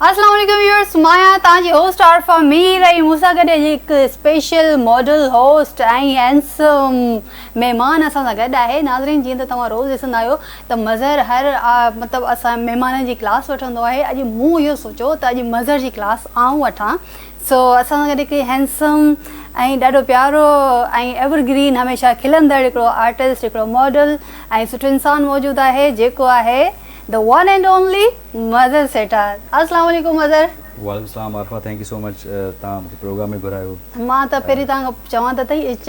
السلام عليڪم ويورز مان آهيان توهان جي هوسٽ عارفه مير ۽ مون سان گڏ اڄ هڪ اسپيشل ماڊل هوسٽ ۽ هينسم مهمان اسان سان گڏ آهي ناظرين جيئن ته توهان روز ڏسندا آهيو ته مظهر هر مطلب اسان مهمانن جي ڪلاس وٺندو آهي اڄ مون اهو سوچيو ته اڄ مظهر جي ڪلاس آئون وٺان سو اسان سان گڏ هڪڙي هينسم ۽ ڏاڍو پيارو ۽ ايور گرين هميشه کلندڙ هڪڙو آرٽسٽ هڪڙو ماڊل ۽ سٺو انسان موجود آهي جيڪو آهي The one and only مظھر سيٺار السلام عليڪم مظھر. وعليڪم السلام Arifa thank you so much تان مونکي پروگرام ۾ گهرايو. مان ته پهرين تان کان چوان ته تئي اچ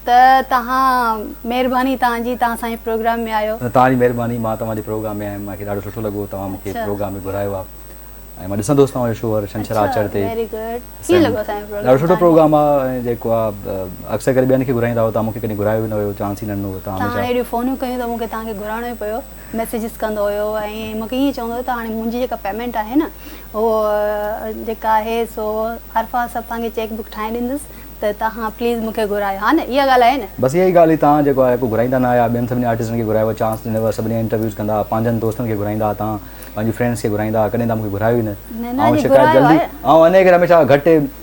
ته تهان مهرباني تان جي تان اسان جي پروگرام ۾ آيو. نه تان جي مهرباني مان توهان جي پروگرام ۾ آيم مانکي ڏاڍو سٺو لڳو توهان مونکي پروگرام ۾ گهرايو آ ۽ مان ڏسندو هوس توهان جو شو هر شنڇر آچر تي ويري گڊ ڪيئن لڳو اسان جو پروگرام ڏاڍو سٺو پروگرام آ ۽ جيڪو آ اڪثر ڪري ٻين کي گهرائيندا هو تان مونکي ڪڏهن گهرايو ئي نه ويو چانس ئي نه ڏنو ويو تان هميشه تان اهڙيون فونيون ڪيون ته مونکي تان کي گهرائڻو ئي پيو. ميسيجز ڪندو هيو ۽ مون کي ائين چوندو هيو ته هاڻي منهنجي جيڪا پيمينٽ آهي نه اهو جيڪا آهي سو هر فار سڀ توهان کي چيڪ بڪ ٺاهي ڏيندس ته توهان پليز مون کي گهرايو ها نه اها ڳالهه آهي نه. بس اها ئي ڳالهه هئي توهان جيڪو آهي ڪو گهرائيندا نه آهيا ٻين سڀني آرٽسٽن کي گهرايو چانس ڏنو سڀني جا انٽرويوز ڪندا ها پنهنجن دوستن کي گهرائيندا ها توهان پنهنجي فرينڊس کي گهرائيندا ها ڪڏهن توهان مون کي گهرايو ئي نه آئون شڪايت جلدي آئون انهيء ڪري هميشه گهٽ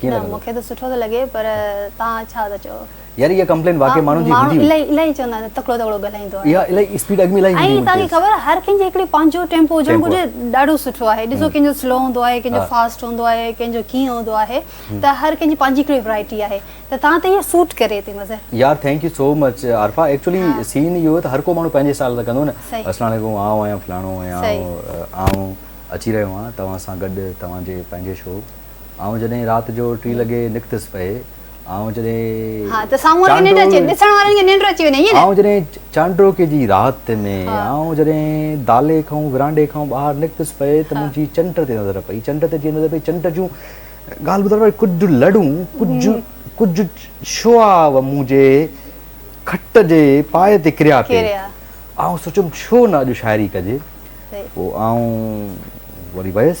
ڪيئن لڳندو؟ نه مون کي ته سٺو ٿو لڳي پر توهان ڇا ٿا چئو؟ يار اها ڪمپلين واقعي ماڻهن جي هوندي هئي. ماڻهو الائي چوندا آهن تڪڙو تڪڙو ڳالهائيندو آهي. اها الائي اسپيڊ اڳ ۾ الائي هوندي هئي. ۽ توهان کي خبر آهي هر ڪنهن جي هڪڙي پنهنجو ٽيمپو هجڻ گهرجي ڏاڍو سٺو آهي ڏسو ڪنهن جو سلو هوندو آهي ڪنهن جو فاسٽ هوندو آهي ڪنهن جو ڪيئن هوندو آهي ته هر ڪنهن جي پنهنجي هڪڙي ورايٽي آهي ته توهان تي اها سوٽ ڪري ٿي مظهر. يار thank you so much Arifa actually سين اهو ته هر ڪو ماڻهو پنهنجي اسٽائيل سان ڪندو نه اسلام عليڪم آئون آهيان فلاڻو آهيان آئون اچي رهيو آهيان توهان سان گڏ توهان جي پنهنجي شو آئون جڏهن رات جو ٽي لڳي نڪتس پئي، آئون جڏهن ها ته سامهون وارن کي ننڊ اچي وڃي، ڏسڻ وارن کي ننڊ اچي وڃي، ائين نه؟ آئون جڏهن چانڊوڪي جي رات ۾، آئون جڏهن دالي کان ورانڊي کان ٻاهر نڪتس پئي ته منهنجي چنڊ تي نظر پئي، چنڊ تي جيئن نظر پئي، چنڊ جون ڳالهه ٻڌڻ واريون ڪجهه لڙون، ڪجهه ڪجهه شعاع منهنجي کٽ جي پايي تي ڪريا پئي، آئون سوچيم ڇو نه اڄ شاعري ڪجي، پوء آئون وري ويس.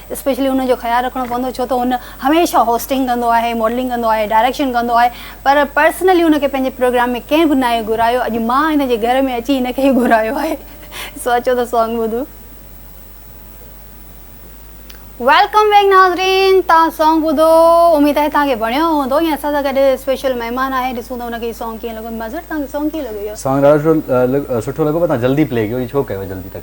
اسپيشلي ان جو خيال رکڻو پوندو ڇو ته هن هميشه هوسٽنگ ڪندو آهي ماڊلنگ ڪندو آهي ڊائريڪشن ڪندو آهي پر پرسنلي ان کي پنهنجي پروگرام ۾ ڪنهن به ناهي گهرايو اڄ مان هن جي گهر ۾ اچي هن کي ئي گهرايو آهي سو اچو ته سانگ ٻڌون. ويلڪم بيڪ ناظرين تان سانگ ٻڌو اميد آهي تان کي وڻيو هوندو ۽ اسان سان گڏ اسپيشل مهمان آهي ڏسون ته ان کي سانگ ڪيئن لڳو مظهر تان کي سانگ ڪيئن لڳو اهو سانگ ڏاڍو سٺو لڳو پر تان جلدي پلي ڪيو هي ڇو ڪيو جلدي تڪليف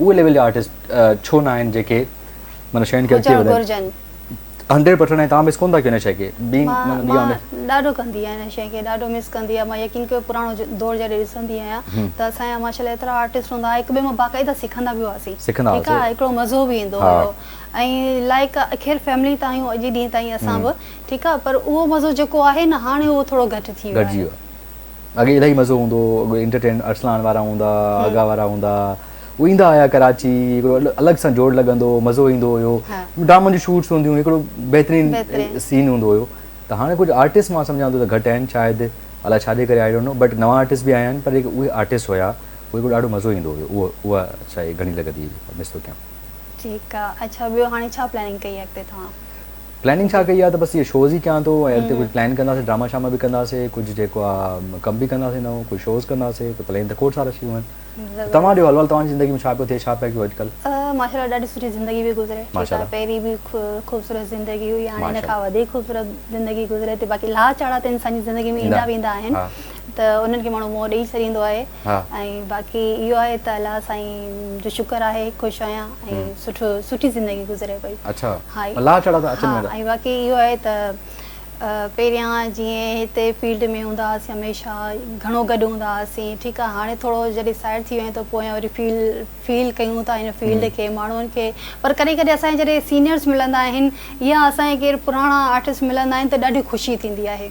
اهي ليول جا آرٽسٽ ڇو نه آهن جيڪي مطلب شين کي اڳتي وڌائين هنڊريڊ پرسنٽ ۽ تان مس ڪونه ٿا ڪيو هن شي کي مان ڏاڍو ڪندي آهيان هن شي کي ڏاڍو مس ڪندي آهيان مان يقين ڪيو پراڻو دور جڏهن ڏسندي آهيان ته اسان جا ماشاء الله ايترا آرٽسٽ هوندا هئا هڪ ٻئي مان باقاعده سکندا به هئاسين ٺيڪ آهي هڪڙو مزو به ايندو هيو ۽ لائق اخير فيملي تان آهيون اڄ ڏينهن تائين اسان به ٺيڪ آهي پر اهو مزو جيڪو آهي نه هاڻي اهو ٿورو گهٽ ٿي ويو آهي اڳي الائي مزو هوندو هو اڳي انٽرٽينمينٽ ارسلان وارا هوندا آغا وارا هوندا هو ايندا هيا ڪراچي هڪڙو الڳ سان جوڙ لڳندو هو مزو ايندو هيو ڊرامن جون شوٽس هونديون هڪڙو بهترين سين هوندو هيو ته هاڻي ڪجهه آرٽسٽ مان سمجهان ٿو ته گهٽ آهن شايد الاء ڇا جي ڪري آئي ڊونٽ نو بٽ نوان آرٽسٽ به آيا آهن پر اهي آرٽسٽ هيا اهي ڪجهه ڏاڍو مزو ايندو هيو اهو اها شايد گهڻي لڳندي مس ٿو ڪيان ٺيڪ آهي اڇا ٻيو هاڻي ڇا پلاننگ ڪئي اڳتي توهان پلاننگ ڇا ڪئي آ ته بس اهي شوز ئي ڪيان ٿو ۽ اڳتي ڪجهه پلان ڪنداسين ڊراما شاما به ڪنداسين ڪجهه جيڪو آ ڪم به ڪنداسين نئون ڪجهه شوز ڪنداسين ته پلين ته کوڙ سارا ٿي ويون آهن توهان ڏيو حلوال توهان جي زندگي ۾ ڇا پيو ٿئي ڇا پئي ڪيو اڄڪلهه ماشاءالله ڏاڍي سٺي زندگي پئي گذري ٺيڪ آ پهرين به خوبصورت زندگي هئي هاڻي ان کان وڌيڪ خوبصورت زندگي گذري ٿي باقي لها چاڙها ته انسان جي زندگي ۾ ايندا ويندا آهن ته انهن کي ماڻهو منهن ڏئي ڇڏيندو آهي ۽ باقي اهو آهي ته الله سائين جو شڪر آهي خوش آهيان ۽ سٺو سٺي زندگي گذري پئي ۽ باقي اهو آهي ته پهريان جيئن هتي فيلڊ ۾ هوندا هئاسين هميشه گهڻو گڏ هوندا هئاسين ٺيڪ آهي هاڻي ٿورو جڏهن سائيڊ ٿي ويا آهيون ته پويان وري فيل فيل ڪيون ٿا هن فيلڊ کي ماڻهن کي پر ڪڏهن ڪڏهن اسان جڏهن سينيئرس ملندا آهن يا اسان جي ڪير پراڻا آرٽسٽ ملندا آهن ته ڏاڍي خوشي ٿيندي آهي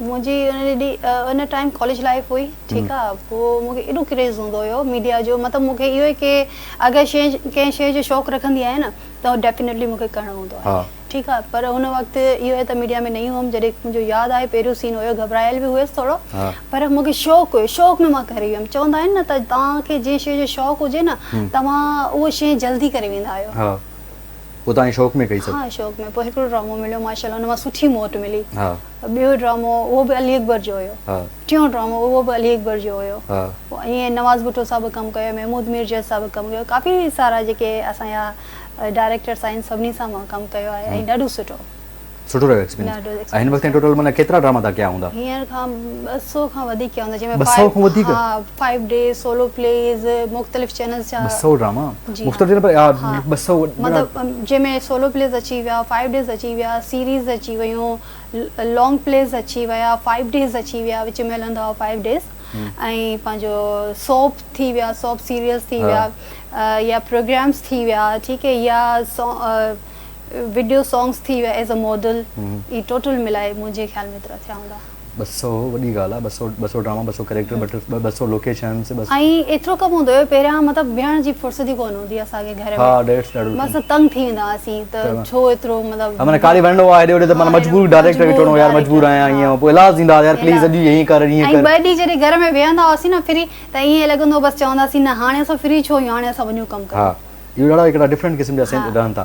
منهنجي ان ٽائيم ڪاليج لائيف هئي ٺيڪ آ پوء مون کي ايڏو ڪريز هوندو هيو ميڊيا جو مطلب مون کي اهو هي ڪي اگر شي ڪنهن شي جو شوق رکندي آهيان نه ته ڊيفينيٽلي مون کي ڪرڻو هوندو آهي ٺيڪ آ پر هن وقت اهو هي ته ميڊيا ۾ نئين هيم جڏهن مون جو ياد آهي پهريون سين هيو گهٻرايل به هيس ٿورو پر مون کي شوق هيو شوق ۾ مان ڪري ويم چوندا آهن نه ته توهان کي جنهن شي جو شوق هجي نه توهان اهو شي جلدي ڪري ويندا آهيو ها پوء توهان شوق ۾ ڪئي سڀ ها شوق ۾ پوء هڪڙو ڊرامو مليو ماشاء الله ان مان سٺي موٽ ملي ٻيو ڊرامو اهو به علي اڪبر جو هيو ٽيون ڊرامو اهو به علي اڪبر جو هيو ائين نواز ڀٽو صاحب به ڪم ڪيو محمود مير جيس صاحب به ڪم ڪيو ڪافي سارا جيڪي اسان جا ڊائريڪٽرس آهن سڀني سان مان ڪم ڪيو آهي ۽ ڏاڍو سٺو سٺو رهيو ايڪسپيرينس هن وقت ٽوٽل معنيٰ ڪيترا ڊراما تها ڪيا هوندا هينئر کان ٻه سؤ کان وڌيڪ ڪيا هوندا جنهن ۾ ٻه سؤ کان وڌيڪ فائيو ڊي سولو پليز مختلف چينلز جا ٻه سئو ڊراما جي مختلف چينل پر ها ٻه سئو مطلب جنهن ۾ سولو پليز اچي ويا فائيو ڊيز اچي ويا سيريز اچي ويون لانگ پليز اچي ويا فائيو ڊيز اچي ويا وچ ۾ هلندا هئا فائيو ڊيز ۽ پنهنجو سوپ ٿي ويا سوپ سيريلز ٿي ويا يا پروگرامز ٿي ويا ٺيڪ هي يا وڊيو سانگز ٿي ويا ايز اي ماڊل هي ٽوٽل ملائي منهنجي خيال ۾ ايترا ٿيا هوندا ٻه سؤ وڏي ڳالهه آهي ٻه سؤ ٻه سؤ ڊراما ٻه سؤ ڪريڪٽر ٻه ٽي ٻه سؤ لوڪيشنس ٻه سؤ. ۽ ايترو ڪم هوندو هيو پهريان مطلب ويهڻ جي فرصت ئي ڪونه هوندي هئي اسان کي گهر ۾ ها ڊيٽس ڏاڍو ڏکيو مس تنگ ٿي ويندا هئاسين ته ڇو ايترو مطلب معنيٰ ڪالي وڃڻو آهي هيڏي هوڏي ته معنيٰ مجبور ڊائريڪٽر کي چوڻو يار مجبور آهيان ائين هو پوء ايلاز ڏيندا هئا يار پليز اڄ ائين ڪر ائين ڪر ۽ ٻه ڏينهن جڏهن گهر ۾ ويهندا هئاسين نه فري ته ائين لڳندو بس چونداسين نه هاڻي اسان فري ڇو آهيون هاڻي اسان وڃون ڪم ڪريون ها اهو ڏاڍا هڪڙا ڊفرنٽ قسم جا سين رهن ٿا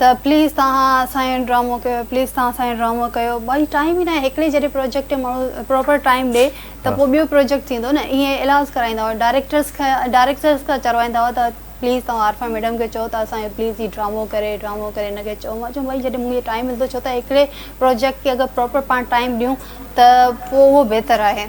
ته پليز تهان اسان جو ڊرامو ڪيو پليز تهان اسان جو ڊرامو ڪيو ڀائي ٽائيم ئي ناهي هڪڙي جڏهن پروجيڪٽ کي ماڻهو پراپر ٽائيم ڏي ته پوء ٻيو پروجيڪٽ ٿيندو نه ائين ايلاز ڪرائيندا هئا ڊائريڪٽرس کي ڊائريڪٽرس کان چروائيندا هئا ته پليز تهان عارفا ميڊم کي چئو ته اسان جو پليز هي ڊرامو ڪري ڊرامو ڪري هن کي چئو مان چيم ڀائي جڏهن مون کي ٽائيم ملندو ڇو ته هڪڙي پروجيڪٽ کي اگر پراپر پاڻ ٽائيم ڏيون ته پوء اهو بهتر آهي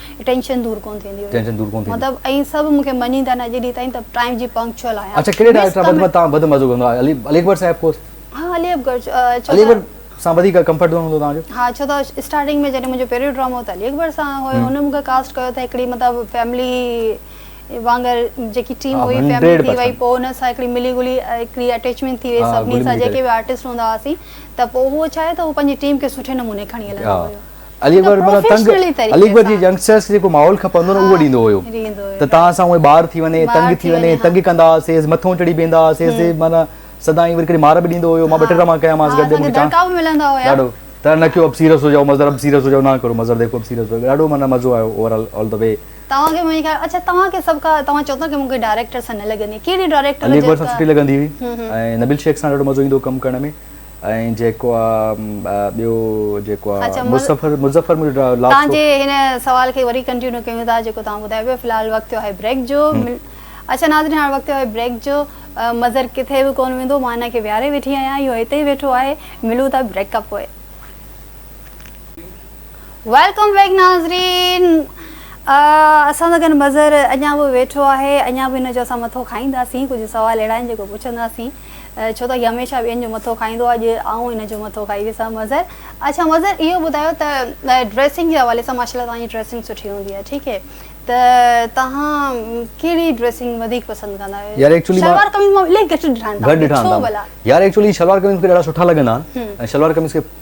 ٽينشن دور ڪون ٿيندي هئي ٽينشن دور ڪون ٿيندي مطلب ائين سڀ مونکي مڃين ٿا نه اڄ ڏينهن تائين ته ٽائيم جي پنڪچوئل آهيان اڇا ڪهڙي ڊائريڪٽر سان وڌ تان وڌ مزو ڪندو آهي علي علي اڪبر صاحب ڪورس ها علي اڪبر ڇو علي اڪبر سان وڌيڪ ڪمفرٽ زون هوندو تان جو ها ڇو ته اسٽارٽنگ ۾ جڏهن منهنجو پهريون ڊرامو هو ته علي اڪبر سان هيو هن مونکي ڪاسٽ ڪيو ته هڪڙي مطلب فيملي وانگر جيڪي ٽيم هئي فيملي ٿي وئي پوء هن سان هڪڙي ملي گلي هڪڙي اٽيچمينٽ ٿي وئي سڀني سان جيڪي به آرٽسٽ هوندا هئاسين ته پوء هو ڇا آهي ته هو پنهنجي ٽيم کي سٺي نموني کڻي هلندو هيو علي اڪبر مطلب تنگ علي اڪبر جي ينگسٽرس کي جيڪو ماحول کپندو نه اهو ڏيندو هيو ته تان سان اهي ٻار ٿي وڃي تنگ ٿي وڃي تنگ ڪندا هئاسين مٿو چڙهي بيهندا هئاسين معنيٰ سدائين وري ڪڏهن مار به ڏيندو هيو مان ٻه ٽي ڊراما ڪيا مانس گڏ مون کي چانس ڏاڍو ته نه ڪيو اب سيريس هو جائو مظهر اب سيريس هو جائو نه ڪرو مظهر ديکو اب سيريس هو جائو ڏاڍو معنيٰ مزو آيو overall all the way توهان کي منهنجي خيال اڇا توهان کي سڀ کان توهان چئو ٿا ته مون کي ڊائريڪٽر سان نه لڳندي ڪهڙي ڊائريڪٽر علي اڪبر سان سٺي لڳندي هئي ۽ نبيل شيخ سان ڏاڍو مزو ايندو هو ڪم ڪرڻ ۾ ۽ جيڪو آ ٻيو جيڪو آ مظفر مظفر مون جو لاء تان جي هن سوال کي وري ڪنٽينيو ڪيون ٿا جيڪو تان ٻڌايو پيو في الحال وقت ٿيو آهي بريڪ جو اڇا ناظرين هاڻ وقت ٿيو آهي بريڪ جو مظهر ڪٿي به ڪون ويندو مان هن کي ويهاري ويٺي آهيان اهو هتي ئي ويٺو آهي ملون ٿا بريڪ کان پوء ويلڪم بيڪ ناظرين اسان سان گڏ مظهر اڃا به ويٺو آهي اڃا به هن جو اسان مٿو کائينداسين ڪجهه سوال اهڙا آهن جيڪو پڇنداسين ڇو ته هي هميشه ٻين جو مٿو کائيندو آهي، اڄ آئون هن جو مٿو کائي ڏسان. مظهر، اڇا مظهر اهو ٻڌايو ته ڊريسنگ جي حوالي سان ماشاءالله توهان جي ڊريسنگ سٺي هوندي آهي ٺيڪ هي ته توهان ڪهڙي ڊريسنگ وڌيڪ پسند ڪندا آهيو؟ يار ايڪچولي مان شلوار قميص مان الائي گهٽ ڏٺا آهن توهان کي ڇو ڀلا؟ يار ايڪچولي شلوار قميص مون کي ڏاڍا سٺا لڳندا آهن ۽ شلوار قميص کي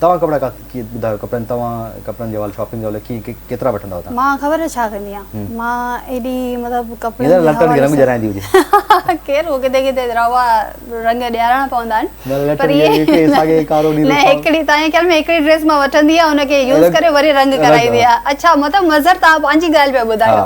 توهان ڪپڙا ڪاٿ ڪي ٻڌايو ڪپڙن توهان ڪپڙن جي حوالي شاپنگ جي حوالي ڪيئن ڪي ڪيترا وٺندا آهيو توهان. مان خبر ڇا ڪندي آهيان مان ايڏي مطلب ڪپڙن جي حوالي سان رنگ جرايندي هجي خير هو ڪٿي ڪٿي روا رنگ ڏيارڻا پوندا آهن پر ايئن نه هڪڙي تنهنجي خيال ۾ هڪڙي ڊريس مان وٺندي آهي ان کي يوز ڪري وري رنگ ڪرائيندي آهي اڇا مطلب مظهر توهان پنهنجي ڳالهه پيا ٻڌايو.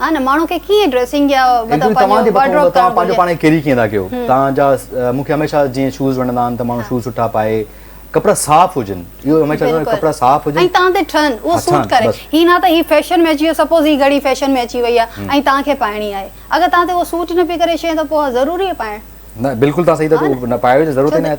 ها نه ماڻهو کي ڪيئن ڊريسنگ يا مطلب پنهنجو وارڊ روب ڪرڻ گهرجي. پاڻ کي ڪيري ڪيئن ٿا ڪيو تان جا مون کي هميشه جيئن شوز وڻندا آهن ته ماڻهو شوز سٺا پائي ڪپڙا صاف هجن اهو هميشه چوندو آهيان ڪپڙا صاف هجن ۽ تان تي ٺهن اهو سوٽ ڪري هي نه ته هي فيشن ۾ اچي ويو سپوز هي گهڙي فيشن ۾ اچي وئي آهي ۽ تان کي پائڻي آهي اگر تان تي اهو سوٽ نه پئي ڪري شيء ته پوء ضروري آهي پائڻ نه بلڪل تان صحيح ته پائي وڃ ضرورت ئي نه آهي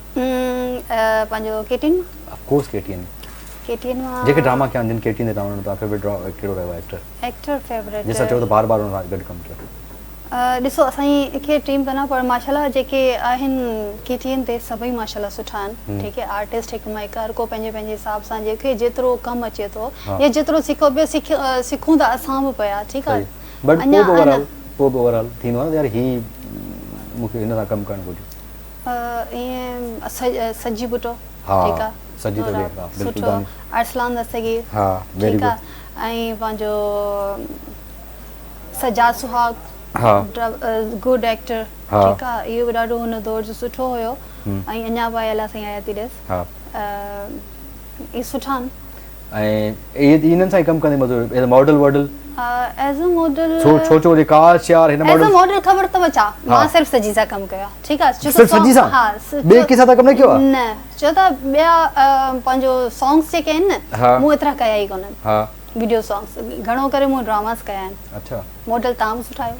پنهنجو K T N of course K T N K T N مان جيڪي ڊراما ڪيا جن ڪي ٽي اين تي ڪم ڪيو تنهنجو فيورٽ ڪهڙو رهيو آهي ايڪٽر ايڪٽر فيورٽ جنهن سان چئو ته بار بار ان سان گڏ ڪم ڪيو ڏسو اسان جي کي ٽيم ڪنا پر ماشاءالله جيڪي آهن ڪي ٽي اين تي سڀئي ماشاءالله سٺا آهن ٺيڪ آهي آرٽسٽ هڪ مائڪ هر ڪو پنهنجي پنهنجي حساب سان جيڪي جيترو ڪم اچي ٿو يا جيترو سکو پيو سکون ته اسان به پيا ٺيڪ آهي بٽ پوء به اوور آل پوء به اوور آل ٿيندو آهي نه ته يار هي مون کي هن سان ڪم ڪرڻ گهرجي ائين سجي ڀٽو ٺيڪ آ سجي ٿو ڏي ها بلڪل سٺو ارسلان دستگير ها ويري گڊ ۽ پنهنجو سجاد سهاگ ها گڊ ايڪٽر ٺيڪ آ اهو به ڏاڍو هن دور جو سٺو هيو ۽ اڃا به آيل آ سائين آيا ٿي ڏس ها اي سٺا آهن ۽ انهن سان ئي ڪم ڪندي مزو ايو. ايز ا ماڊل واڊل. As a model. ڇو ڇو ڇو جي ڪاش يار هن ماڊل. ايز ا ماڊل خبر اٿو ڇا مان صرف سجي سان ڪم ڪيو آهي ٺيڪ آهي. صرف سجي سان ها ٻي ڪنهن سان ته ڪم نه ڪيو آهي. نه ڇو ته ٻيا پنهنجو سانگس جيڪي آهن نه مون ايترا ڪيا ئي ڪونهن. ها ويڊيو سانگس گهڻو ڪري مون ڊراماس ڪيا آهن. اڇا ماڊل تان به سٺا آهيو.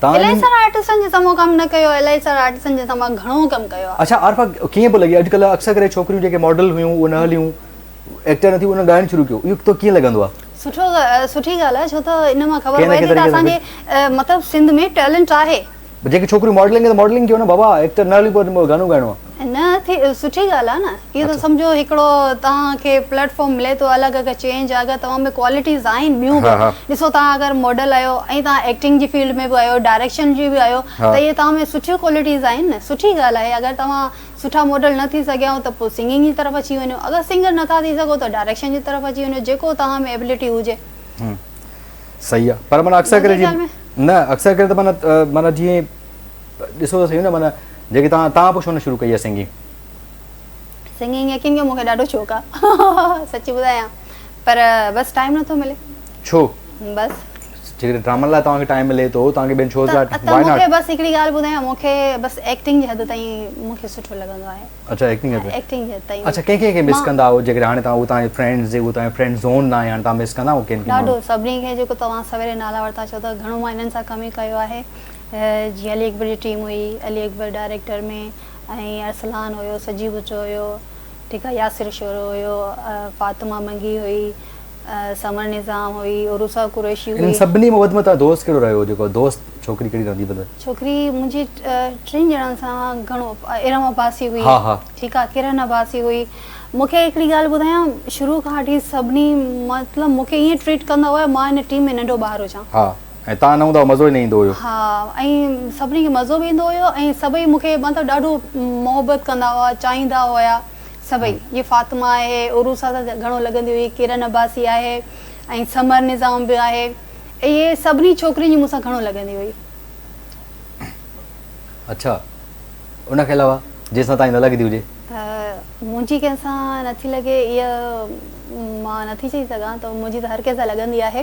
تان الائي سارا آرٽسٽن جي سمو ڪم نه ڪيو الائي سارا آرٽسٽن جي سما گهڻو ڪم ڪيو آ. اڇا عارفه ڪيئن پيو لڳي اڄ ڪلهه اڪثر ڪري ڇوڪريون جيڪي ماڊل هيون اهي نه هليون ايڪٽر نه ٿيون انهن ڳائڻ شروع ڪيو اهو تو ڪيئن لڳندو آ. سٺو سٺي ڳالهه آ ڇو ته ان مان خبر پئي ٿي ته اسان جي مطلب سنڌ ۾ ٽيلنٽ آهي. جيڪي ڇوڪريون ماڊلنگ ڪن ته ماڊلنگ ڪيو نه بابا ايڪٽر نه هليون پر گانو ڳائڻو آ. نه ٿي سٺي ڳالهه آهي نه اهو ته سمجهو هڪڙو توهان کي پليٽ فارم ملي ٿو الڳ اگهر چينج آهي اگهر توهان ۾ ڪوالٽيز آهن ٻيون به ڏسو توهان اگهر ماڊل آهيو ۽ توهان ايڪٽنگ جي فيلڊ ۾ به آهيو ڊائريڪشن جي به آهيو ته اهي توهان ۾ سٺيون ڪوالٽيز آهن نه سٺي ڳالهه آهي اگهر توهان سٺا ماڊل نه ٿي سگهيائون ته پوء سنگنگ جي طرف اچي وڃو اگهر سنگر نه ٿا ٿي سگهو ته ڊائريڪشن جي طرف اچي وڃو جيڪو توهان ۾ ايبلٽي هجي صحيح آهي پر معنيٰ اڪثر ڪري جي نه اڪثر ڪري ته معنيٰ معنيٰ جيئن ڏسو ته سهي نه معنيٰ جيڪي توهان توهان پوء ڇو نه شروع ڪئي آهي سنگنگ. سنگنگ يقين ڪيو مون کي ڏاڍو شوق آ سچ ٻڌايان پر بس ٽائيم نه ٿو ملي. ڇو؟ بس. جيڪڏهن ڊرامن لاء توهان کي ٽائيم ملي ٿو توهان کي ٻين شوز لاء ٽائيم واء ناٽ. ته مون کي بس هڪڙي ڳالهه ٻڌايان مون کي بس ايڪٽنگ جي حد تائين مون کي سٺو لڳندو آهي. اڇا ايڪٽنگ جي حد. ايڪٽنگ جي حد تائين. اڇا ڪنهن ڪنهن کي مس ڪندا آهيو جيڪڏهن هاڻي توهان توهان جي فرينڊز جيڪو توهان جي فرينڊ زون نه آهي هاڻي توهان مس ڪندا آهيو ڪن ڪن ماڻهن کي. ڏاڍو سڀني کي جيڪو توهان سويري نالا ورتا ڇو ته گهڻو مان هنن سان ڪم ئي ڪيو آهي. جيئن علي اڪبر جي ٽيم هئي، علي اڪبر ڊائريڪٽر ۾ ۽ ارسلان هيو، سجي بچو هيو، ٺيڪ آهي، ياسر شورو هيو، فاطمه منگي هئي، سمر نظام هئي، عروسا قريشي هئي. انهن سڀني مان وڌ ۾ توهان جو دوست ڪهڙو رهيو جيڪو دوست ڇوڪري ڪهڙي رهندي بد ۾؟ ڇوڪري منهنجي ٽن ڄڻن سان گهڻو ارم عباسي هئي ٺيڪ آهي ڪرن عباسي هئي مون کي هڪڙي ڳالهه ٻڌايان شروع کان وٺي سڀني مطلب مون کي ائين ٽريٽ ڪندا هئا مان هن ٽيم ۾ ننڍو ٻار هجان ۽ تان نه هوندا هئا مزو ئي نه ايندو هيو. ها ۽ سڀني کي مزو به ايندو هيو ۽ سڀئي مون کي مطلب ڏاڍو محبت ڪندا هئا چاهيندا هيا سڀئي جي فاطمه آهي عروس سان ته گهڻو لڳندي هئي ڪرن عباسي آهي ۽ ثمر نظام به آهي اهي سڀني ڇوڪرين جي مون سان گهڻو لڳندي هئي. اڇا ان کان علاوه جنهن سان تان جي نه لڳندي هجي. منهنجي ڪنهن سان نٿي لڳي اها مان نٿي چئي سگهان ته منهنجي ته هر ڪنهن سان لڳندي آهي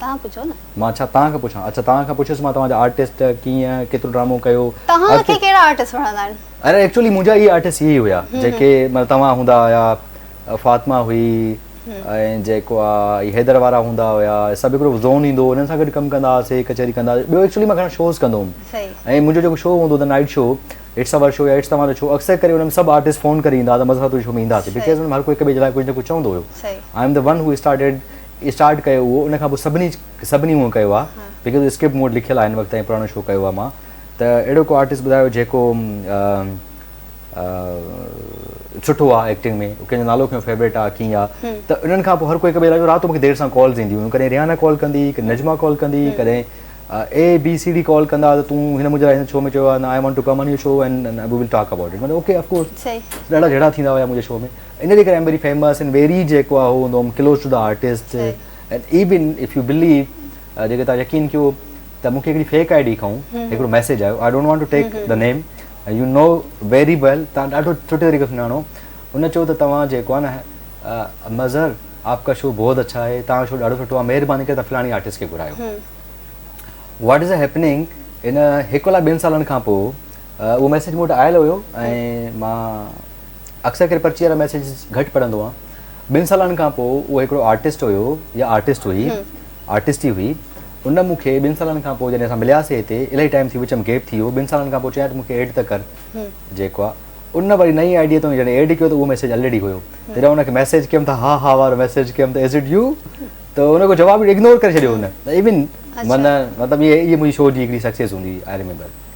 توهان پڇو نه. مان ڇا توهان کان پڇان. اڇا توهان کان پڇيس مان توهان جا آرٽسٽ ڪيئن ڪيترو ڊرامو ڪيو. توهان کي ڪهڙا آرٽسٽ وڻندا آهن. اري ايڪچولي منهنجا اهي آرٽسٽ اهي ئي هيا جيڪي مطلب توهان هوندا هيا فاطمه هئي ۽ جيڪو آ هي حيدر وارا هوندا هيا سڀ هڪڙو زون ايندو هو انهن سان گڏ ڪم ڪندا هئاسي ڪچهري ڪندا هئاسي ٻيو ايڪچولي مان گهڻا شوز ڪندو هوم ۽ منهنجو جيڪو شو هوندو هو ته night show it's over show يا اٽس توهان جو شو اڪثر ڪري ان ۾ سڀ آرٽسٽ فون ڪري ايندا هئا ته مظهر تنهنجي شو ۾ اينداسي بڪاز ان ۾ هر ڪو هڪ ٻئي جي لاء ڪجهه نه ڪجهه چوندو هيو I am the one who started start ڪيو هو ان کان پوء سڀني سڀني هونء ڪيو آ جيڪي تو اسڪرپٽ مون وٽ لکيل آ هن وقت تائين پراڻو شو ڪيو آ مان ته اهڙو ڪو آرٽسٽ ٻڌايو جيڪو سٺو آ ايڪٽنگ ۾ ڪنهن جو نالو کيو فيوريٽ آ ڪيئن آ ته انهن کان پوء هر ڪو هڪ ٻئي لاء رات جو مونکي دير سان ڪالز اينديون هيون ڪڏهن ريحانه ڪال ڪندي ڪڏهن نجما ڪال ڪندي ڪڏهن A B C D call ڪندا ته تون هن منهنجي لاء هن شو ۾ چيو آ I want to come on your show and we will talk about it مطلب اوڪي اف ڪورس ڏاڍا جهيڙا ٿيندا هيا منهنجي شو ۾ ان جي ڪري I am very famous in very جيڪو آهي هو هوندو close to the artist and even if you believe جيڪي تان يقين ڪيو ته مونکي هڪڙي فيڪ آئي ڊي کائون هڪڙو ميسج آيو I don't want to take the name you know very well تان ڏاڍو سٺي طريقي سان سڃاڻو ان چيو ته توهان جيڪو آهي نه مظهر آپ ڪا شو بہت اڇا آهي تان شو ڏاڍو سٺو آهي مهرباني ڪري تان فلاڻي آرٽسٽ کي گهرايو واٽ از هيپننگ ان هڪ لاء ٻن سالن کان پوء اهو ميسج مون وٽ آيل هيو ۽ مان اڪثر ڪري پرچي وارا ميسيجز گهٽ پڙهندو آهيان. ٻن سالن کان پوء اهو هڪڙو آرٽسٽ هيو يا آرٽسٽ هئي، آرٽسٽ ئي هئي، ان مون کي ٻن سالن کان پوء جڏهن اسان ملياسي هتي، الائي ٽائيم ٿي وچ ۾ گيپ ٿي ويو، ٻن سالن کان پوء چيائين ته مون کي ايڊ ته ڪر. جيڪو آهي ان وري نئين آئي ڊيء تان جڏهن ايڊ ڪيو ته اهو ميسيج الريڊي هيو. جڏهن ان کي ميسيج ڪيم ته ها ها وارو ميسيج ڪيم ته از اٽ يو؟ ته ان کي جواب اگنور ڪري ڇڏيو هن. ايون معنيٰ مطلب اهي منهنجي شو جي هڪڙي سڪسيس هوندي هئي آئي ريميمبر.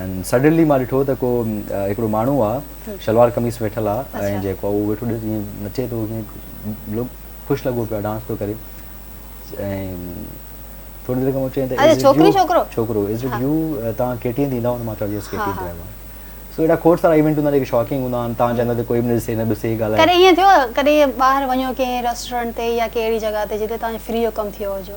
۽ سڊنلي مان ڏٺو ته ڪو هڪڙو ماڻهو آ شلوار قميص ۾ ويٺل آ ۽ جيڪو آ اهو ويٺو ڏس جيئن نچي ٿو جيئن لوڪ خوش لڳو پيو آ ڊانس ٿو ڪري ۽ ٿوري دير کان پوء چيائين ته اهي ڇوڪري ڇوڪرو ڇوڪرو از اٽ يو توهان ڪي ٽي اين تي ايندا هئو ته مان چوان يس ڪي ٽي اين تي آيو آهيان سو اهڙا کوڙ سارا ايونٽ هوندا آهن جيڪي شاڪنگ هوندا آهن توهان چاهيندا ته ڪوئي به نه ڏسي نه ٻسي ڳالهائي ڪڏهن ائين ٿيو آ ڪڏهن ٻاهر وڃو ڪنهن ريسٽورنٽ تي يا ڪنهن اهڙي جڳهه تي جتي توهان جو فري جو ڪم ٿيو هجو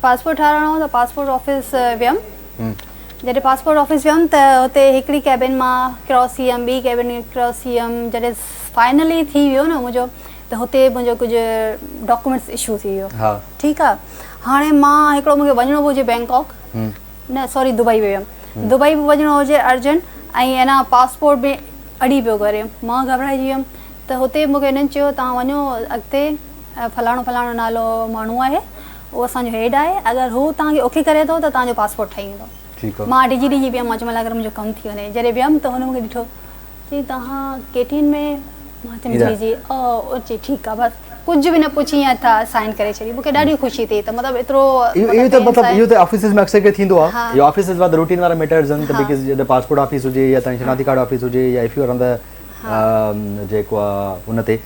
پاسپورٽ ٺاهرائڻو هو ته پاسپورٽ آفيس ويم جڏهن پاسپورٽ آفيس ويم ته هتي هڪڙي ڪيبن مان ڪراس ٿي ويم ٻي ڪيبن ڪراس ٿي ويم جڏهن فائنلي ٿي ويو نه منهنجو ته هتي منهنجو ڪجهه ڊاڪومينٽس اشو ٿي ويو ٺيڪ آ هاڻي مان هڪڙو مون کي وڃڻو به هجي بينڪاڪ نه سوري دبئي به ويم دبئي به وڃڻو هجي ارجنٽ ۽ انا پاسپورٽ به اڙي پيو ڪري مان گهٻرائجي ويم ته هتي مون کي هنن چيو توهان وڃو اڳتي فلاڻو فلاڻو نالو ماڻهو آهي اهو اسان جو هيڊ آهي اگر هو توهان کي اوڪي ڪري ٿو ته توهان جو پاسپورٽ ٺهي ويندو مان ڊڄي ڊڄي پيم مان چيم الا اگر منهنجو ڪم ٿي وڃي جڏهن ويم ته هن مون کي ڏٺو چي توهان ڪي ٽي اين ۾ مان چيم جي جي او چي ٺيڪ آهي بس ڪجهه به نه پڇي ائين تھا سائن ڪري ڇڏي مون کي ڏاڍي خوشي ٿي ته مطلب ايترو اهو ته مطلب اهو ته آفيسز ۾ اڪثر ڪري ٿيندو آهي جو آفيسز وارا روٽين وارا ميٽرز آهن ته بيڪاز جڏهن پاسپورٽ آفيس هجي يا توهان جي شناختي ڪارڊ آفيس هجي يا F U R on the جيڪو آهي ان تي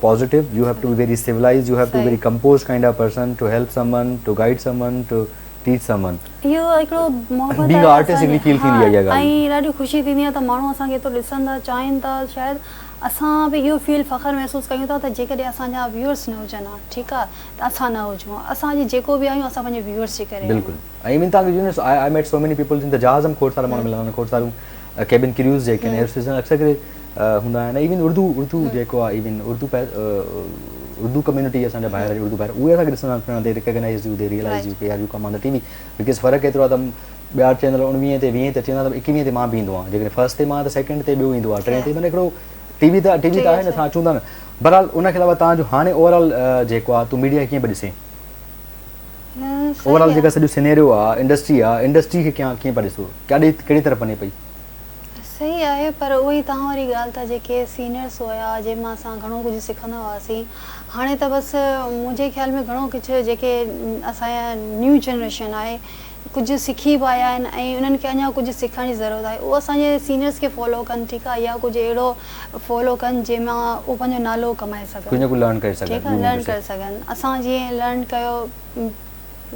positive you have to be very civilised you have to very compose kind of person to help someone to guide someone to teach someone اهو هڪڙو محبت being a artist هڪڙي feel ٿيندي آهي اها ڳالهه ۽ ڏاڍي خوشي ٿيندي آهي ته ماڻهو اسان کي ايترو ڏسن ٿا چاهين ٿا شايد اسان به اهو فيل فخر محسوس ڪيون ٿا ته جيڪڏهن اسان جا ويورس نه هجن ها ٺيڪ آهي ته اسان نه هجون ها اسان اڄ جيڪو به آهيون اسان پنهنجي ويورس جي ڪري آهيون بلڪل ۽ ايون تان you know I met so many people جن ته جهاز هم کوڙ سارا ماڻهو ملندا آهن کوڙ ساريون ڪيبن ڪريوز جيڪي آهن اهي سيزن اڪثر ڪري هوندا آهن ايون اردو اردو جيڪو آهي ايون اردو اردو ڪميونٽي اسان جا ڀائر اردو ڀائر اهي اسان کي ڏسندا پڻ they recognise you they realise you ڪي are you come on the T V because فرق ايترو آهي ته ٻيا چينل اڻويهين تي ويهين تي اچي ويندا ايڪويهين تي مان به ايندو آهيان جيڪڏهن فرسٽ تي مان ته سيڪنڊ تي ٻيو ايندو آهي ٽين تي معنی هڪڙو ٽي وي ته ٽي وي ته آهي نه اسان اچون ٿا نه بهرحال ان کي علاوه تان جو هاڻي اوور آل جيڪو آهي تون ميڊيا کي ڪيئن پئي ڏسين اوور آل جيڪا سڄو سينيريو آهي انڊسٽري آهي انڊسٽري کي ڪيئن پئي ڏسو ڪهڙي طرف وڃي پئي صحيح آهي پر اهو ئي توهان واري ڳالهه ته جيڪي سينئرس هيا جن مان اسان گهڻو ڪجهه سکندا هئاسين هاڻي ته بس منهنجي خيال ۾ گهڻو ڪجهه جيڪي اسان جا نيو جنريشن آهي ڪجهه سکي به آيا آهن ۽ انهن کي اڃا ڪجهه سکڻ جي ضرورت آهي اهو اسان جي سينئرس کي فالو ڪن ٺيڪ آهي يا ڪجهه اهڙو فالو ڪن جنهن مان اهو پنهنجو نالو ڪمائي سگهن ڪجهه نه ڪجهه لرن ڪري سگهن ٺيڪ آهي لرن ڪري سگهن اسان جيئن لرن ڪيو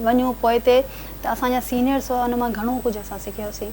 وڃون پوئتي ته اسان جا سينئرس هئا ان مان گهڻو ڪجهه اسان سکيوسين.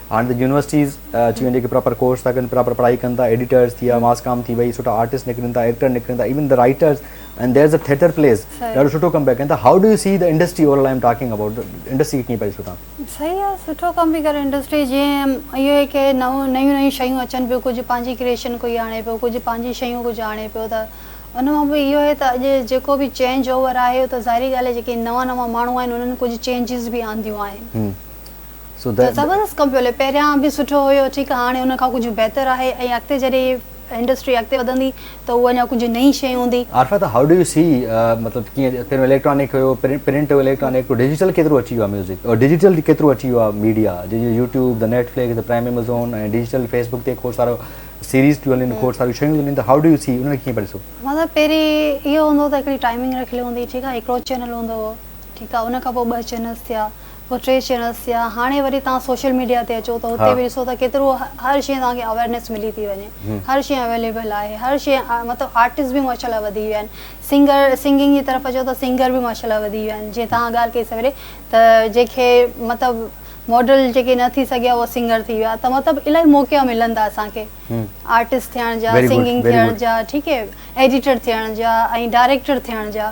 هاڻي ته يونيورسٽيز اچي ويون جيڪي پراپر ڪورس ٿا ڪن پراپر پڙهائي ڪن ٿا ايڊيٽرز ٿي ويا ماس ڪام ٿي وئي سٺا آرٽسٽ نڪرن ٿا ايڪٽر نڪرن ٿا even the writers and there's a theatre plays ڏاڍو سٺو ڪم پيا ڪن ٿا how do you see the industry over all I am talking about the industry کي ڪيئن پيا ڏسو تان صحيح آ سٺو ڪم پي ڪري انڊسٽري جيئن اهو هي ڪي نئون نيون نيون شيون اچن پيون ڪجهه پنهنجي ڪريئشن ڪوئي آڻي پيو ڪجهه پنهنجي شيون ڪجهه آڻي پيو ته ان مان به اهو هي ته اڄ جيڪو به چينج اوور آهي ته ظاهري ڳالهه آهي جيڪي نوان نوان ماڻهو آهن انهن ڪجهه چينجز به آنديون آهن. سڌ. زبردست ڪم پيو هلي پهريان به سٺو هيو ٺيڪ هاڻي ان کان ڪجهه بهتر آهي ۽ اڳتي جڏهن هي انڊسٽري اڳتي وڌندي ته اهو اڃا ڪجهه نئين شئي هوندي. عارفه ته هائو ڊو يو سي مطلب ڪيئن پهريون اليڪٽرانڪ هيو پرنٽ هيو اليڪٽرانڪ پوء ڊجيٽل ڪيترو اچي ويو آهي ميوزڪ اور ڊجيٽل ڪيترو اچي ويو آهي ميڊيا جي جو يوٽيوب ته نيٽفلڪس ته پرائم ايمزون ۽ ڊجيٽل فيسبوڪ تي کوڙ سارو سيريز ٿيون هلن کوڙ ساريون شيون ٿيون هلن ته هائو ڊو يو سي ان کي ڪيئن پيا ڏسو. مطلب پهرين اهو هوندو هو ته هڪڙي ٽائمنگ رکيل هوندي هئي ٺيڪ آهي هڪڙو چينل هوندو هو ٺيڪ آهي ان کان پوء ٻه چينلز ٿيا. ٽي چينلز ٿيا هاڻي وري توهان سوشل ميڊيا تي اچو ته هتي به ڏسو ته ڪيترو هر شيء توهان کي اويرنيس ملي ٿي وڃي هر شيء اويليبل آهي هر شيء مطلب آرٽسٽ به ماشاء الله وڌي ويا آهن سنگر سنگنگ جي طرف اچو ته سنگر به ماشاء الله وڌي ويا آهن جيئن توهان ڳالهه ڪئي سويري ته جيڪي مطلب ماڊل جيڪي نه ٿي سگهيا اهو سنگر ٿي ويا ته مطلب الاهي موقعا ملن ٿا اسان کي آرٽسٽ ٿيڻ جا سنگنگ ٿيڻ جا ٺيڪ هي ايڊيٽر ٿيڻ جا ۽ ڊائريڪٽر ٿيڻ جا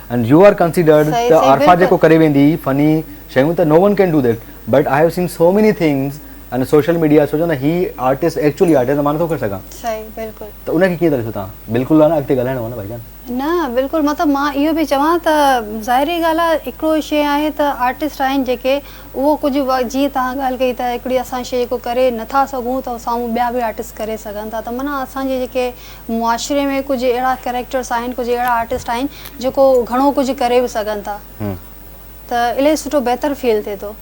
اينڊ يو آر ڪنسيڊرڊ ته عارفا جيڪو ڪري ويندي فني شيون ته no one can do that but I have seen so many things in social media سوچو نه هي آرٽسٽ ايڪچولي آرٽسٽ آهي مان نٿو ڪري سگهان صحيح بلڪل ته ان کي ڪيئن ٿا ڏسو تان بلڪل نه اڳتي ڳالهائڻو آهي نه ڀائيجان نه بلڪل مطلب مان اهو به چوان ته ظاهري ڳالهه آهي هڪڙو شي آهي ته آرٽسٽ آهن جيڪي اهو ڪجهه جيئن تان ڳالهه ڪئي ته هڪڙي اسان شي جيڪو ڪري نٿا سگهون ته سامهون ٻيا به آرٽسٽ ڪري سگهن ٿا ته معنيٰ اسان جي جيڪي معاشري ۾ ڪجهه اهڙا ڪريڪٽرس آهن ڪجهه اهڙا آرٽسٽ آهن جيڪو گهڻو ڪجهه ڪري به سگهن ٿا ته الائي سٺو بهتر فيل ٿئي ٿو.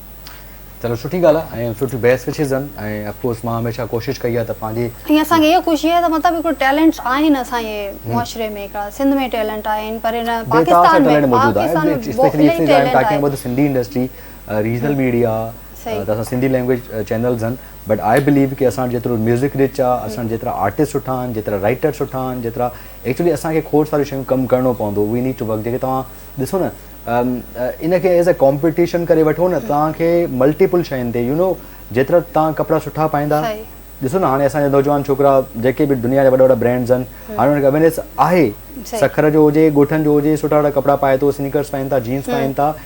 چلو سٺي ڳالهه آهي ۽ سٺي بحث به ٿي سن ۽ اف ڪورس مان هميشه ڪوشش ڪئي آهي ته پنهنجي. ۽ اسان کي اها خوشي آهي ته مطلب هڪڙو ٽيلنٽس آهن اسان جي معاشري ۾ هڪڙا سنڌ ۾ ٽيلنٽ آهن پر هن Pakistan ۾ Pakistan ۾ specially specially time talking about ته سنڌي انڊسٽري ريجنل ميڊيا. ته اسان سنڌي لينگويج چينلز آهن بٽ آء بليو ڪي اسان وٽ جيترو ميوزڪ رچ آهي اسان وٽ جيترا آرٽسٽ سٺا آهن جيترا رائٽر سٺا آهن جيترا ايڪچولي اسان کي کوڙ ساريون شيون ڪم ڪرڻو پوندو وي نيڊ ٽو ورڪ جيڪي توهان ڏسو نه ان کي ايز اي ڪامپيٽيشن ڪري وٺو نه توهان کي ملٽيپل شين تي يو نو جيترا توهان ڪپڙا سٺا پائيندا ڏسو نه هاڻي اسان جا نوجوان ڇوڪرا جيڪي به دنيا جا وڏا وڏا برانڊز آهن هاڻي ان کي اويرنيس آهي سکر جو هجي ڳوٺن جو هجي سٺا سٺا ڪپڙا پائي ٿو سنيڪرس پائين ٿا جينس پائين ٿا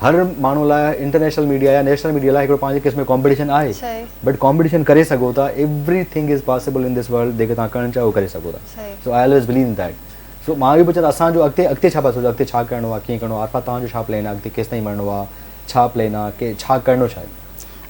هر ماڻهو لاء انٽرنيشنل ميڊيا يا نيشنل ميڊيا لاء هڪڙو پنهنجي قسم جو ڪامپيٽيشن آهي بٽ ڪامپيٽيشن ڪري سگهو ٿا everything is possible in this world جيڪي توهان ڪرڻ چاهيو ڪري سگهو ٿا so I always believe in that so مان اهو پيو چوان اسان جو اڳتي اڳتي ڇا پيا سوچو اڳتي ڇا ڪرڻو آهي ڪيئن ڪرڻو آهي عارفا توهان جو ڇا پلين آهي اڳتي ڪيستائين مڙڻو آهي ڇا پلين آهي ڪي ڇا ڪرڻو ڇا آهي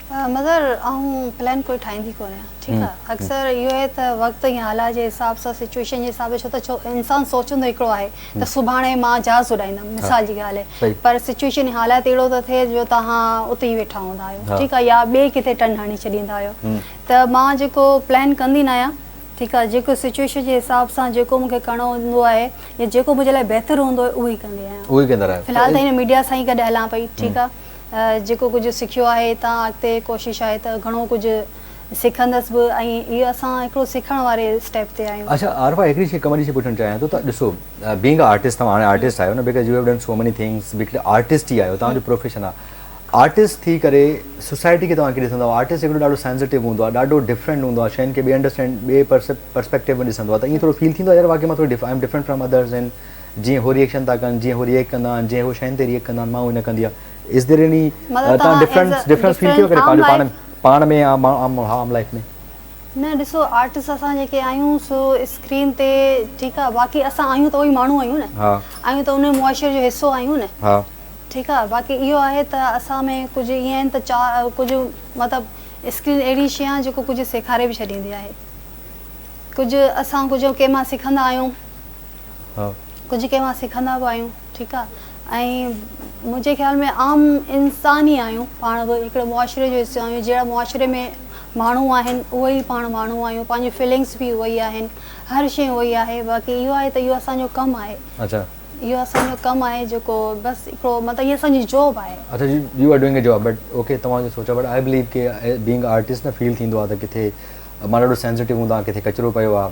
مظهر آئون پلان ڪوئي ٺاهيندي ڪونه آهيان ٺيڪ آهي اڪثر اهو آهي ته وقت ۽ حالات جي حساب سان سچوئيشن جي حساب سان ڇو ته انسان سوچندو هڪڙو آهي ته سڀاڻي مان جهاز اڏائيندم مثال جي ڳالهه آهي پر سچوئيشن ۽ حالات اهڙو ٿو ٿئي جو توهان اتي ئي ويٺا هوندا آهيو ٺيڪ آهي يا ٻئي ڪٿي ٽرن هڻي ڇڏيندا آهيو ته مان جيڪو پلان ڪندي نه آهيان ٺيڪ آهي جيڪو سچوئيشن جي حساب سان جيڪو مون کي ڪرڻو هوندو آهي يا جيڪو منهنجي لاء بهتر هوندو آهي اهو ئي ڪندي آهيان اهو ئي ڪندا رهيو فلحال ته هن ميڊيا سان ئي گڏ هلان پئي ٺيڪ آهي جيڪو ڪجهه سکيو آهي هتان اڳتي ڪوشش آهي ته گهڻو ڪجهه سکندس به ۽ هي اسان هڪڙو سکڻ واري اسٽيپ تي آهيون. اڇا عارفه هڪڙي شي قمري کي پڇڻ چاهيان ٿو ته ڏسو بينگ ا آرٽسٽ توهان هاڻي آرٽسٽ آهيو نه because you have done so many things because artist ئي آهيو توهان جو پروفيشن آهي آرٽسٽ ٿي ڪري سوسائٽي کي توهان ڪيئن ڏسندا آهيو آرٽسٽ هڪڙو ڏاڍو سينسٽو هوندو آهي ڏاڍو ڊفرنٽ هوندو آهي شين کي ٻئي انڊرسٽينڊ ٻئي پرسپيڪٽو ۾ ڏسندو آهي ته ايئن ٿورو فيل ٿيندو آهي يار واقعي مان ٿورو I am different from others and جيئن هو ريئيڪشن ٿا ڪن، جيئن هو ريئيڪٽ ڪندا آهن، جيئن هو شين تي ريئيڪٽ ڪندا آهن، مان اهو نه ڪندي آهيان. Is there any مطلب تان توهان as a difference difference feel ٿي ويو ڪڏهن ڊفرنٽ عام پنهنجو پاڻ لائف ۾ پاڻ ۾ يا ماڻهو عام عام لائف ۾؟ نه ڏسو آرٽسٽ اسان جيڪي آهيون سو اسڪرين تي ٺيڪ آهي باقي اسان آهيون ته اهي ماڻهو آهيون نه ها آهيون ته ان معاشري جو حصو آهيون نه ها ٺيڪ آهي باقي اهو آهي ته اسان ۾ ڪجهه ائين آهن ته چا ڪجهه مطلب اسڪرين اهڙي شي آهي جيڪو ڪجهه سيکاري به ڇڏيندي آهي ڪجهه اسان ڪجهه ڪنهن مان سکندا آهيون ها. ڪجهه ڪنهن کان سکندا به آهيون ٺيڪ آ ۽ منهنجي خيال ۾ عام انسان ئي آهيون پاڻ به هڪڙي معاشري جو حصو آهيون جهڙا معاشري ۾ ماڻهو آهن اهي ئي پاڻ ماڻهو آهيون پنهنجي فيلنگس به اهي ئي آهن هر شي اهو ئي آهي باقي اهو آهي ته اهو اسان جو ڪم آهي اچا اهو اسان جو ڪم آهي جيڪو بس هڪڙو مطلب هي اسان جي جاب آهي اچا you are doing a job but okay توهان جو سوچا بٽ آء بليو ڪي بينگ آرٽسٽ نه فيل ٿيندو آهي ته ڪٿي مان ڏاڍو سينسيٽو هوندا ڪٿي ڪچرو پيو آهي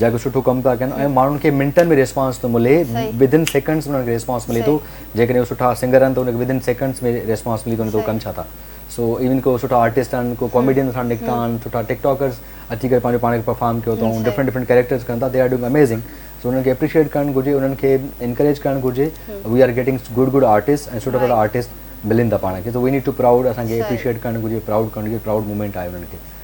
جيڪو سٺو ڪم ٿا ڪن ۽ ماڻهن کي منٽن ۾ ريسپانس ٿو ملي ودن سيڪنڊس ۾ انهن کي ريسپانس ملي ٿو جيڪڏهن هو سٺا سنگر آهن ته انهن کي ودن سيڪنڊس ۾ ريسپانس ملي ٿو نه ته هو ڪن ڇا ٿا سو ايون ڪو سٺا آرٽسٽ آهن ڪو ڪاميڊين سان نڪتا آهن سٺا ٽڪ ٽاڪرس اچي ڪري پنهنجو پاڻ کي پرفارم ڪيو اٿائون ڊفرنٽ ڊفرنٽ ڪيريڪٽرس ڪن ٿا they are doing amazing so انهن کي اپريشيئيٽ ڪرڻ گهرجي انهن کي انڪريج ڪرڻ گهرجي we are getting good good artist ۽ سٺا سٺا آرٽسٽ ملن ٿا پاڻ کي so we need to proud اسان کي اپريشيئيٽ ڪرڻ گهرجي پرائوڊ ڪرڻ گهرجي پرائوڊ مومينٽ آهي انهن کي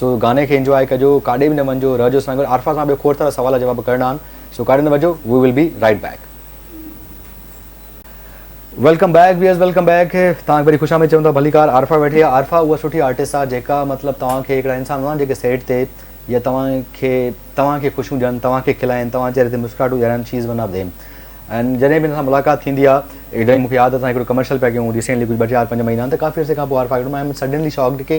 سو گاني کي انجواء ڪجو ڪاڏي به نه وڃجو رهجو اسان گڏ عارفه سان ٻيو کوڙ سارا سوال جواب ڪرڻا آهن سو ڪاڏي نه وڃجو we will be right back. Welcome back where's welcome back توهان کي وري خوش آمديد چون ٿا ڀليڪار عارفه ويٺي آهي عارفه اها سٺي آرٽسٽ آهي جيڪا مطلب توهان کي هڪڙا انسان هوندا آهن جيڪي سيٽ تي يا توهان کي توهان کي خوشيون ڏين توهان کي کلائين توهان چهري تي مسڪراهٽون ڏيارين she is one of them and جڏهن به هن سان ملاقات ٿيندي آهي مون کي ياد اٿس اسان هڪڙو ڪمرشل پيا ڪيون ريسينٽلي ڪجهه ٻه چار پنج مهينا ته ڪافي عرصي کان پوء عارفه آئي ڪيو آهي آئي ايم سڊنلي شاڪڊ ڪي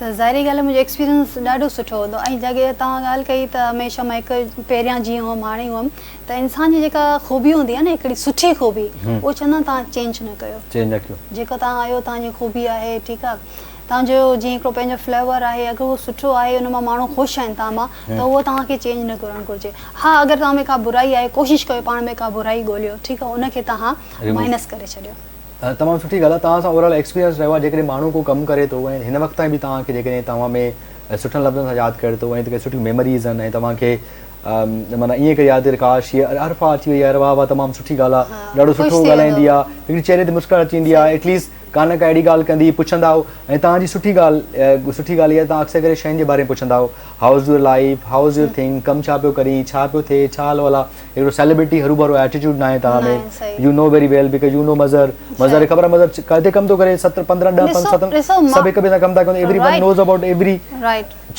ته ظاهري ڳالهه منهنجو ايڪسپيرينس ڏاڍو سٺو هوندو ۽ جا ڪي توهان ڳالهه ڪئي ته هميشه مان هڪ پهريان جيئن هئم هاڻي هئم ته انسان جي جيڪا خوبي هوندي آهي نه هڪڙي سٺي خوبي اهو چوندا آهن توهان چينج نه ڪيو چينج نه ڪيو جيڪو توهان آهيو توهان جي خوبي آهي ٺيڪ آهي توهان جو جيئن هڪڙو پنهنجو فليور آهي اگر اهو سٺو آهي ان مان ماڻهو خوش آهن توهان مان ته اهو توهان کي چينج نه ڪرڻ گهرجي ها اگر توهان ۾ ڪا برائي آهي ڪوشش ڪيو پاڻ ۾ ڪا برائي ڳوليو ٺيڪ آهي ان کي توهان مائنس ڪري ڇڏيو تمام سٺي ڳالهه آهي توهان سان اوورال ايڪسپيرينس رهيو آهي جيڪڏهن ماڻهو ڪو ڪم ڪري ٿو ۽ هن وقت تائين به توهان کي جيڪڏهن توهان ۾ سٺن لفظن سان ياد ڪري ٿو ۽ ڪي سٺيون ميموريز آهن ۽ توهان کي مانا ائين ڪري ياد ڪاش هي عرفا اچي وئي يار واهه واهه تمام سٺي ڳالهه آهي ڏاڍو سٺو ڳالهائيندي آهي هڪڙي چهري تي مسڪر اچي ويندي آهي ايٽليسٽ ڪا نه ڪا اهڙي ڳالهه ڪندي پڇندا آهو ۽ توهان جي سٺي ڳالهه سٺي ڳالهه اها توهان اڪثر ڪري شين جي باري ۾ پڇندا آهو how is your life how is your thing ڪم ڇا پيو ڪرين ڇا پيو ٿئي ڇا حال حوال آهي اهڙو سيلبرٽي هروڀرو ايٽيٽيوڊ ناهي توهان ۾ you know very well because you know Mazhar Mazhar کي خبر آهي مظهر ڪٿي ڪم ٿو ڪري ست پندرهن ڏهه پنج ست سڀ هڪ ٻئي سان ڪم ٿا ڪن everyone knows about every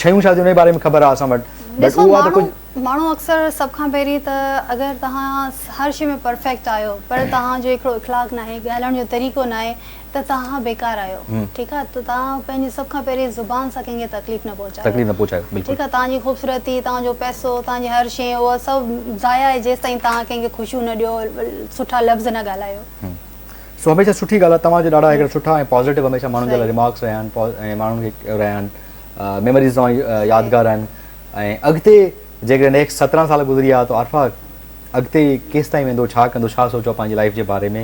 شيون ڇا ٿيون ان جي باري ۾ خبر آهي اسان وٽ بٽ اهو آهي ته ڪجهه ماڻهو اڪثر سڀ کان پهرين ته اگر توهان هر شيء ۾ پرفيڪٽ آهيو پر توهان جو هڪڙو اخلاق ناهي ڳالهائڻ جو طريقو ناهي ته توهان بيڪار آهيو ٺيڪ آهي ته توهان پنهنجي سڀ کان پهرين زبان سان ڪنهن کي تڪليف نه پهچايو تڪليف نه پهچايو بلڪل ٺيڪ آهي توهان جي خوبصورتي توهان جو پئسو توهان جي هر شي اهو سڀ ضايع آهي جيستائين توهان ڪنهن کي خوشيون نه ڏيو سٺا لفظ نه ڳالهايو. سو هميشه سٺي ڳالهه آهي توهان جا ڏاڍا هڪڙا سٺا ۽ پازيٽو هميشه ماڻهن جي لاء ريمارڪس رهيا آهن ۽ ماڻهن کي رهيا آهن ميموريز توهان جي يادگار آهن ۽ اڳتي جيڪڏهن نيڪسٽ سترهن سال گذري ويا ته عارفه اڳتي ڪيستائين ويندو ڇا ڪندو ڇا سوچيو پنهنجي لائيف جي باري ۾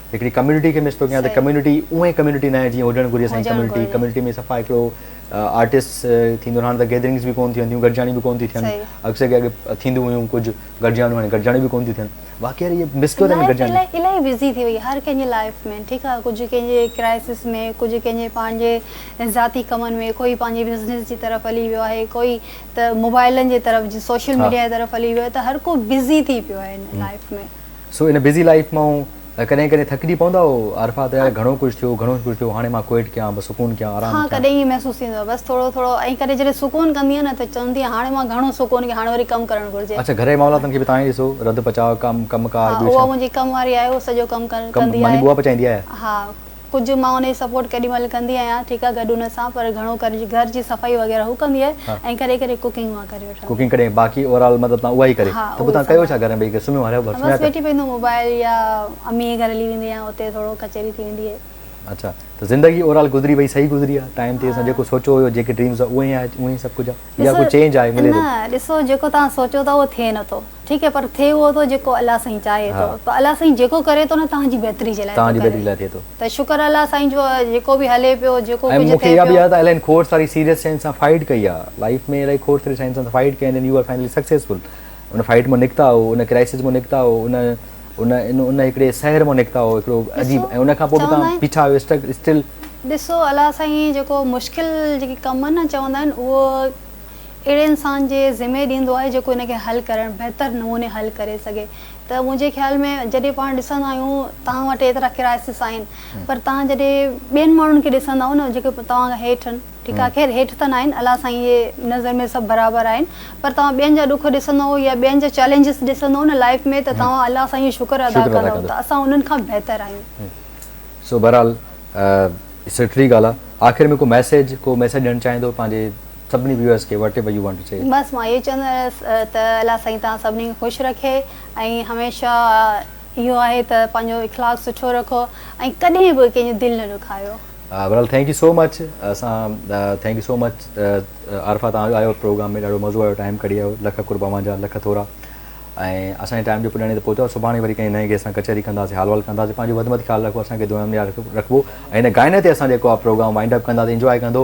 هڪڙي ڪميونٽي کي مس ٿو ڪيان ته ڪميونٽي اهي ڪميونٽي ناهي جيئن هجڻ گهرجي اسان جي ڪميونٽي ڪميونٽي ۾ صفا هڪڙو آرٽسٽ ٿيندو هاڻ ته گيدرنگس به ڪون ٿيون ٿيون گڏجاڻيون به ڪون ٿيون ٿين اڪثر ڪي اڳي ٿيندو هيون ڪجهه گڏجاڻيون هاڻي گڏجاڻيون به ڪون ٿيون ٿين واقعي يار اهي مس ٿو ٿين گڏجاڻيون لائف الائي الائي بزي ٿي وئي آهي هر ڪنهن جي لائف ۾ ٺيڪ آهي ڪجهه ڪنهن جي ڪرائسس ۾ ڪجهه ڪنهن جي پنهنجي ذاتي ڪمن ۾ ڪوئي پنهنجي بزنس جي طرف هلي ويو آهي ڪوئي ته موبائلن جي طرف سوشل ميڊيا جي طرف هلي ويو آهي ته هر ڪو بزي ٿي پيو آهي هن life ۾ so in busy life مان ڪڏهن ڪڏهن ٿڪجي پوندا آهو عارفه ته يار گهڻو ڪجهه ٿيو گهڻو ڪجهه ٿيو هاڻي مان ڪوئٽ ڪيان بس سڪون ڪيان آرام ڪيان. ها ڪڏهن ائين محسوس ٿيندو آهي بس ٿورو ٿورو ائين ڪري جڏهن سڪون ڪندي آهيان نه ته چوندي آهيان هاڻي مان گهڻو سڪون ڪيان هاڻي وري ڪم ڪرڻ گهرجي. اڇا گهر جي معاملاتن کي به تان ئي ڏسو رڌ پچاء ڪم ڪم ڪار ٻيو ڇا. ها اها منهنجي ڪم واري آهي اهو سڄو ڪم ڪندي آهي. ماني ٻوها پچائيندي آهي. ها. ڪجهه مان ان جي سپورٽ ڪيڏي مهل ڪندي آهيان ٺيڪ آهي گڏ ان سان پر گهڻو ڪري گهر جي صفائي وغيره هو ڪندي آهي ۽ ڪڏهن ڪڏهن ڪوڪنگ مان ڪري وٺندي ڪوڪنگ ڪڏهن باقي اوور آل مطلب تان اها ئي ڪري ته پوء تان ڪيو ڇا گهر ۾ ٻئي سمهيو هري بس سمهيا ويٺي پوندو موبائل يا امي جي گهر هلي ويندي آهيان اتي ٿورو ڪچهري ٿي ويندي آهي. اڇا ته زندگي اوور آل گذري وئي صحيح گذري آهي ٽائيم تي اسان جيڪو سوچيو هيو جيڪي ڊريمز هئا اهي ئي آهي اهو ئي سڀ ڪجهه آهي يا ڪجهه چينج آهي ملي ٿو نه ڏسو جيڪو توهان سوچيو ٿا اهو ٿئي نٿو ٺيڪ آهي پر ٿئي اهو ٿو جيڪو الله سائين چاهي ٿو پر الله سائين جيڪو ڪري ٿو نه تنهن جي بهتري جي لاء ٿو ڪري ته شڪر الله سائين جو جيڪو به هلي پيو جيڪو ڪجهه ٿئي پيو ۽ مون کي اها به ياد آهي الائي کوڙ ساري سيريس شين سان فائيٽ ڪئي آهي لائيف ۾ الائي کوڙ ساري شين سان فائيٽ ڪئي then you are finally successful in fight مان نڪتا آهو ان ڪرائسز مان نڪتا آهو ان ان ان هڪڙي سحر مان نڪتا آهو هڪڙو عجيب ۽ ان کان پوء به توهان بيٺا آهيو اسٽڪ اسٽل ڏسو الله سائين جيڪو مشڪل جيڪي ڪم نه چوندا آهن اهو اهڙي انسان جي ذمي ڏيندو آهي جيڪو ان کي حل ڪرڻ بهتر نموني حل ڪري سگهي ته منهنجي خيال ۾ جڏهن پاڻ ڏسندا آهيون توهان وٽ ايترا ڪرائسس آهن پر توهان جڏهن ٻين ماڻهن کي ڏسندا آهيو نه جيڪي توهان کان هيٺ آهن ٺيڪ آهي خير هيٺ ته ناهن الله سائين جي نظر ۾ سڀ برابر آهن پر توهان ٻين جا ڏک ڏسندو يا ٻين جا چئلينجز ڏسندو نه لائيف ۾ ته توهان الله سائين جو شڪر ادا ڪندو ته اسان انهن کان بهتر آهيون سو بهرحال سٺڙي ڳالهه آهي آخر ۾ ڪو ميسيج ڪو ميسيج ڏيڻ چاهيندو پنهنجي سڀني ويورز کي whatever you want to see. بس مان اهوئي چوندو رهيس ته الله سائين توهان سڀني کي خوش رکي ۽ هميشه اهو آهي ته پنهنجو اخلاق سٺو رکو ۽ ڪڏهن به ڪنهن جي دل نه ڏکايو. بھرحال ٿينڪ يو سو مچ اسان thank you so much Arifa توھان آيو پروگرام ۾ ڏاڍو مزو آيو ٽائيم ڪڍي آيو لک قرب اوھان جا لک ٿورا ۽ اسان جي ٽائيم جو پڄاڻي تي پهتو سڀاڻي وري ڪنهن نئين گيسٽ سان ڪچهري ڪنداسين حال وحال ڪنداسين پنهنجو وڌ مٿ خيال رکو اسان کي دعائن ۾ ياد رکبو ۽ هن گائني تي اسان جيڪو آ پروگرام وائنڊ اپ ڪنداسين انجواء ڪندو